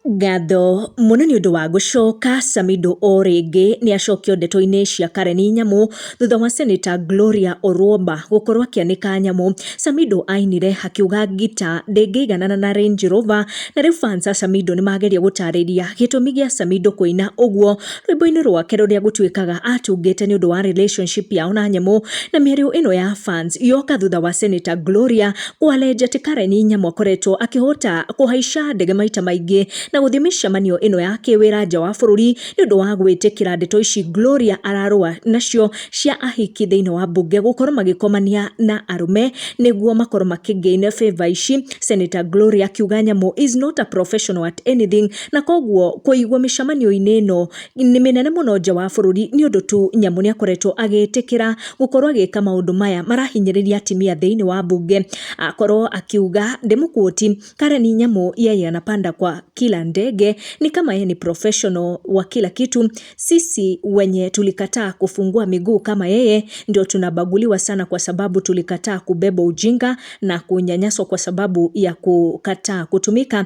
Ngatho mũno nĩ ũndũ wa gũcoka, Samido o rĩngĩ nĩ acokio ndeto-inĩ cia Karen Nyamu, thutha wa seneta Gloria Orwomba gũkorwo akĩanĩka nyamũ. Samido ainire akiuga ngita ndĩngĩiganana na Range Rover, na rĩu fans a Samido nĩ mageria gũtarĩria gĩtũmi gĩa Samido kũina ũguo rwĩmbo-inĩ rwake rũrĩa gũtuĩkaga atungĩte nĩ ũndũ wa relationship yao na nyamũ. Na mĩario ĩno ya fans yoka thutha wa seneta Gloria Walejeti Kareni Nyamũ akoretwo akĩhota kũhaica ndege maita maingĩ na gũthiĩ mĩcemanio ĩno ya kĩwĩra nja wa bũrũri nĩ ũndũ wa gwĩtĩkĩra ndeto ici Gloria ararũa nacio cia ahiki thĩinĩ wa mbunge gũkorwo magĩkomania na arũme nĩguo makorwo makĩgain favour ici. Senator Gloria akiuga Nyamũ is not a professional at anything na koguo kũigwo mĩcemanio-inĩ ĩno nĩ mĩnene mũno nja wa bũrũri nĩ ũndũ tu Nyamũ nĩ akoretwo agĩtĩkĩra gũkorwo agĩka maũndũ maya marahinyĩrĩria atimia thĩinĩ wa mbunge. Akorwo akiuga ndĩmũkuoti, Karen Nyamũ yeye anapanda kwa kila ndege ni kama yeye ni professional wa kila kitu. Sisi wenye tulikataa kufungua miguu kama yeye ndio tunabaguliwa sana kwa sababu tulikataa kubeba ujinga na kunyanyaswa kwa sababu ya kukataa kutumika.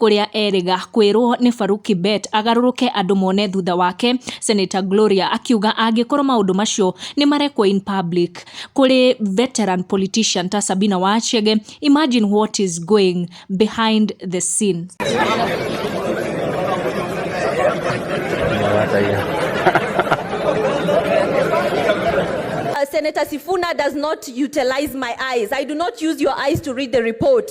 kũrĩa erĩga kwĩrwo nĩ Farouk Kibet agarũrũke andũ mone thutha wake, Senator Gloria akiuga angĩkorwo maũndũ macio nĩ marekwo in public kũrĩ veteran politician ta Sabina wa Chege, imagine what is going behind the scene. Senator Sifuna does not utilize my eyes. I do not use your eyes to read the report.